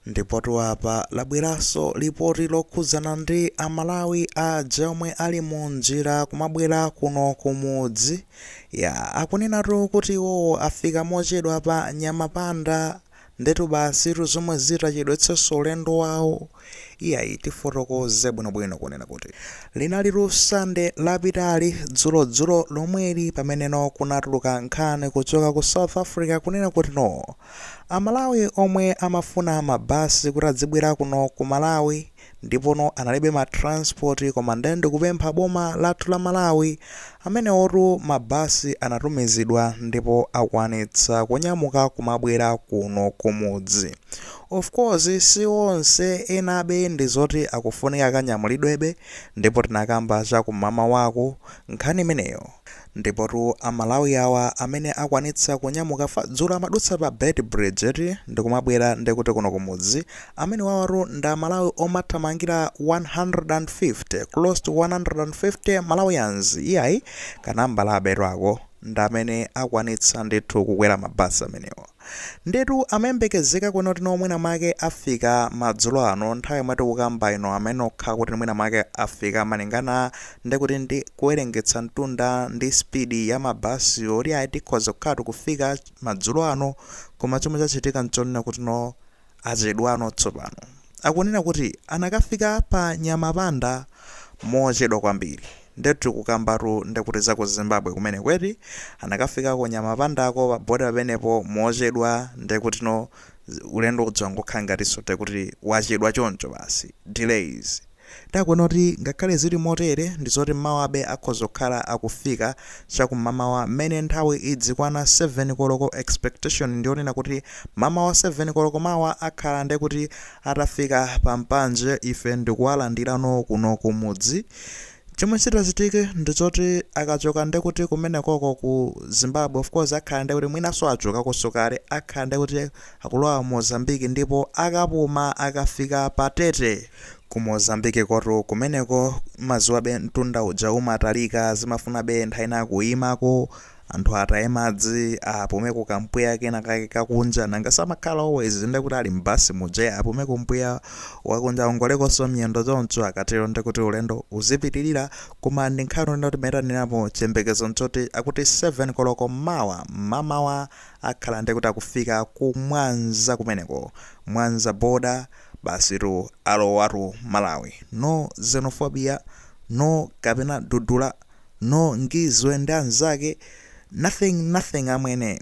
Ndipotu apa labweranso lipoti lokhudzana ndi a Malawi aja omwe ali mu njira kumabwera kuno ku mudzi. Yaa, akunenatu kuti iwowo afika mochedwa pa Nyamapanda. Ndetu basitu zomwe zitachedwetsenso ulendo wawo. Iyayi tifotokoze bwinobwino kunena kuti linali la Sande lapitali dzulodzulo lomweli pameneno kunatuluka nkhani kuchoka ku South Africa kunena kuti no. Amalawi omwe amafuna mabasi kuti adzibwera kuno ku Malawi ndipono analibe ma transport koma nde ndikupempha boma lathu la Malawi amenewotu mabasi anatumizidwa ndipo akwanitsa kunyamuka kumabwera kuno kumudzi. Of course si onse enabe ndi zoti akufunika akanyamulidwebe ndipo tinakamba cha kumamawaku nkhani imeneyo. Ndipotu a Malawi awa amene akwanitsa kunyamuka pa dzulo amadutsa pa Beit Bridge eti ndikumabwera nde kuti kuno kumudzi, amenewawatu ndi a Malawi omathamangira 150, close to 150 Malawians, iyayi ka nambalabetu ako, ndi amene akwanitsa ndithu kukwera mabasi amenewa. Ndiyetu amayembekezeka kunena kuti no mwina mwake afika madzulo ano nthawi yomwe tikukamba ino amenokha kuti mwina mwake afika malingana ndi kuti ndi kuwerengetsa mtunda ndi speed ya mabasi oti ayi tikhoza kukhatu kufika madzulo ano koma chomwe chachitika nchonena kuti no Achedwano tsopano akunena kuti anakafika pa Nyamapanda mochedwa kwambiri. Ndetu tikukambatu ndekuti za ku Zimbabwe kumeneko eti? Anakafikako Nyamapandako pa border pamenepo mochedwa ndekutino ulendo uja wangokhala ngatinso ndekuti wachedwa choncho basi, delays. Nde akunena kuti ngakhale zili motere ndizoti mmawabe akhoza kukhala akufika chakumamawa mmene nthawi idzikwana 7 koloko expectation ndiyonena kuti mamawa 7 koloko mawa akhala ndekuti atafika pa mpanje ife ndikuwalandirano kuno kumudzi chomwe chitachitike ndichoti akachoka ndekuti kumenekoko ku Zimbabwe of course akhala ndekuti mwinaso achokakoso kale akhala ndekuti akulowa Mozambique ndipo akapuma akafika pa Tete Ku Mozambique kotu kumeneko maziwabe mtunda uja umatalika zimafunabe nthawi ina kuimako anthu ataye madzi apumeko kampweya kena kake kakunja nanga samakhala always ndekuti ali mbasi muja apumeko mpweya wakunja awongolekonso miyendo choncho akatero ndekuti ulendo uzipitirira koma ndi nkhani ino timayitanirapo chiyembekezo nchoti akuti 7 koloko mawa mamawa akhala ndekuti akufika ku Mwanza kumeneko Mwanza border Basitu alowatu m'Malawi. No xenophobia, no kapena dudula, no Ngizwe ndi anzake, nothing nothing amwene.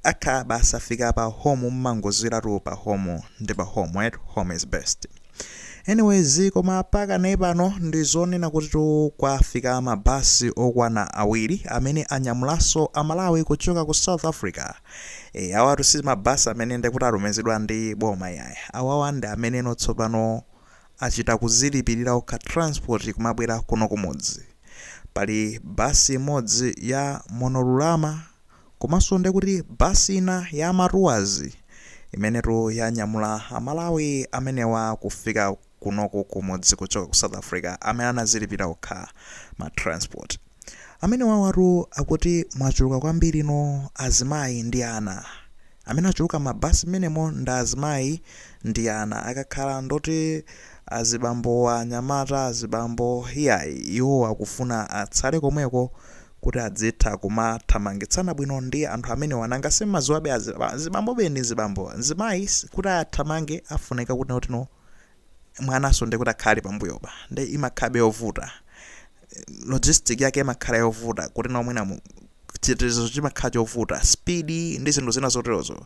Atha basi afika pa home mumangozwiratu pa home ndi pa home eti, home is best. Anyways koma pakanali pano ndi zonena kutitu kwafika ma bus okwana awiri amene anyamulanso a Malawi kuchoka ku South Africa. Eh, awatu si mabasi amene ndekuti atumizidwa ndi boma iyayi awawa ndi ameneno tsopano achita kuzilipirira okha transport kumabwera kuno kumudzi pali basi imodzi ya Munorurama komanso ndekuti basi ina ya matuwazi imenetu yanyamula amalawi amenewa kufika kunoko kumudzi kuchoka ku south africa amene anazilipira okha ma transport amenewawatu akuti mwachuluka kwambiri azimayi ndi ana amene achuluka m'mabasi mmenemo ndi azimayi ndi ana akakhala ndoti azibambo anyamata azibambo iyayi iwo akufuna atsale komweko kuti adzitha kumathamangitsana bwino ndi anthu amenewa nanga simmadziwabe azibambobe ndi azibambo mzimayi kuti athamange afunika kuti notino mwananso ndikuti akhala ali pambuyopa nde imakhabe yovuta logistic yake imakhala yovuta kuti nawo mwina mu- chitetezo chimakhala chovuta speed ndi zinthu zina zoterozo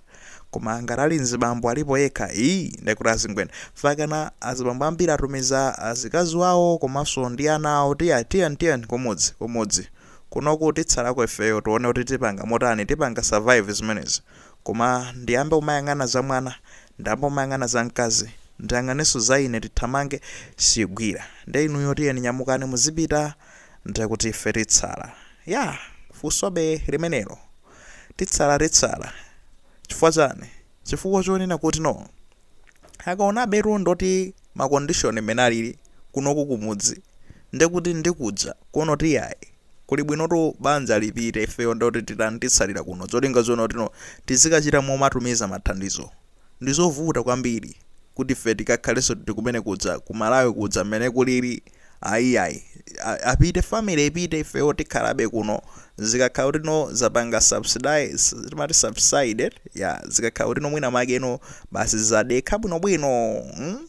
koma ngati ali mzibambo alipo yekha iyi ndikuti azingwena fakana azibambo ambiri atumiza azikazi wawo komanso ndi ana awo tiye tiyeni tiyeni kumudzi kumudzi kunoku titsalako ifeyo tione kuti tipanga motani tipanga survive zimenezi Koma ndiyambe kumayang'ana za mwana, ndiyambe kumayang'ana za mkazi, ndiyang'anenso za ine, tithamange, siigwira. Ndiye inuyo tiyeni nyamukani muzipita, ndekuti ife titsala. Ya! Funsobe limenelo. Titsala, titsala. Chifukwa chani? Chifukwa chonena kuti no. akaonabetu ndoti ma condition mmene alili kunoku kumudzi ndekuti ndikuja kuona kuti iyayi kuli bwinotu banja lipite ifeyo ndekuti titani titsalire kuno cholinga choona kuti no tizikachita momatumiza mathandizo ndizovuta kwambiri kuti ife tikakhalenso tili kumene kuja ku Malawi kuja mmene kulili Ayi ayi a- apite family ipite ifewo tikhalabe kuno zikakhala kuti no zapanga subside timati subside ya zikakhala kuti no mwina make no basi zadekha bwinobwino mm?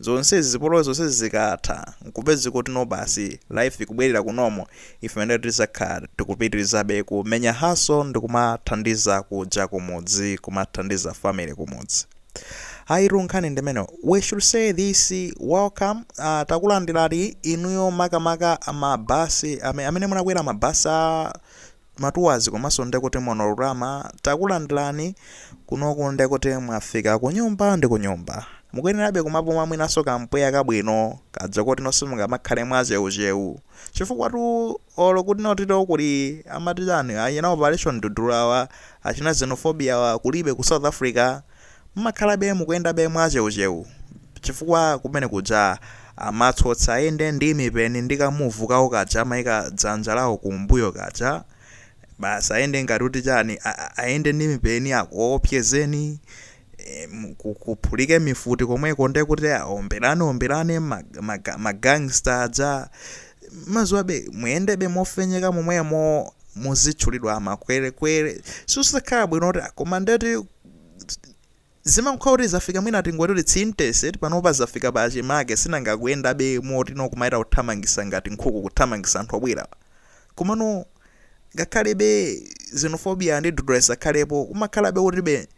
zonsezi zipolowe zonsezi zikatha nkupeze kuti no basi life ikubwerera ku normal ife nde tizakhala tikupitirizabe kumenya hustle ndikumathandiza kuja kumudzi kumathandiza family kumudzi Ayitu nkhani ndimene we should say this welcome uh, takulandirani inuyo makamaka mabasi ame- amene munakwera mabasi a matuwazi komanso ndekuti monorama takulandirani kunoku ndekuti mwafika kunyumba ndi kunyumba mukuyenerabe kumapuma mwinanso kampweya kabwino kadza koti nonse mungamakhale mwacheucheu chifukwa tu Olo kuti notito kuli amati chani achina operation dudula awa achina xenophobia awa kulibe ku south africa mmakhalabe mukuyendabe mwacheucheu chifukwa kumene kuja amatsotsa ayende ndi mipeni ndi ka move kawo kaja amaika dzanja lawo kumbuyo kaja basi ayende ngati kuti chani ayende ndi mipeni akuopsezeni e, kuphulike mifuti komweko nde kuti aomberane omberane magangsta aja maziwabe muyendebe mofenyeka momwemo muzitchulidwa makwerekwere sizikhala bwino kuti koma ndeti zimakhala kuti zafika mwina tingoti kuti zinthuzitu panopa zafika pachimake sinanga akuyendabe moti nokumaita kuthamangisa ngati nkhuku kuthamangisa anthu obwera Komano ngakhalebe xenophobia ndi dudula zisakhalepo umakhalabe kutibe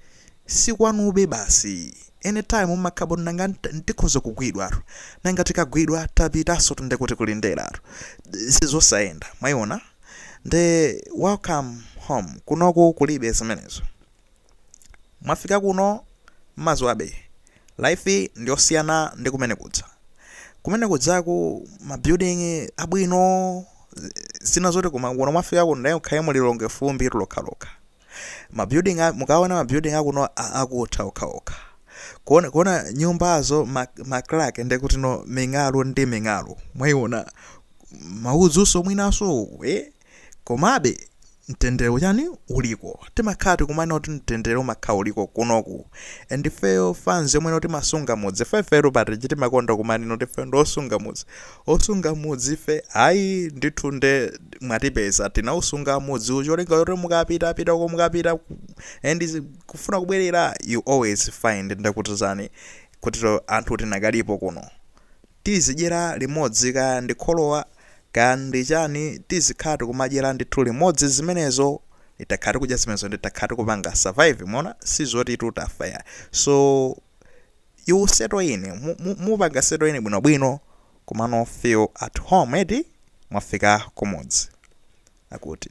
sikwanube basi anytime umakhala ngati tikhoza kugwidwatu nanga tikagwidwa tapitansotu nde kuti kulinderatu sizosayenda mwayiona nde welcome home kunoku kulibe zimenezo. mwafika kuno mmaziwabe life ndiyosiyana ndi kumene kuja kumene kujaku ma building abwino zina zoti koma kuno mwafika kuno ndaye ukhale mu lilongwe fumbi lokhalokha ma building a- mukaona ma building akuno a- akutha okhaokha kuona, kuona nyumbazo ma, ma crack ndekuti no ming'alu ndi ming'alu mwaiona maudzuso mwinanso eh? Komabe, mtendere chani uliko timakhala tikumanena kuti mtendere umakhala uliko kunoku and ifeyo fans yomweno timasunga mudzi ife ifetu pa reach timakonda kumanena kuti ife ndi osunga mudzi osunga mudzi ife ayi ndithu nde mwatipeza tinausunga mudzi ncholinga choti mukapita pita uko mukapita ku- and zi- kufuna kubwerera you always find ndekuti chani kutito anthu tinakalipo kuno tizidyera limodzi kaya ndi kholowa kaya ndi chani tizikhala tikumadyera ndithu limodzi zimenezo takhala tikudya zimenezo ndi takhala tikupanga survive mwaona sizotitu tafa ayi so you settle in mu- mu- mupanga settle in bwinobwino kunoko feel at home eti mwafika kumudzi akuti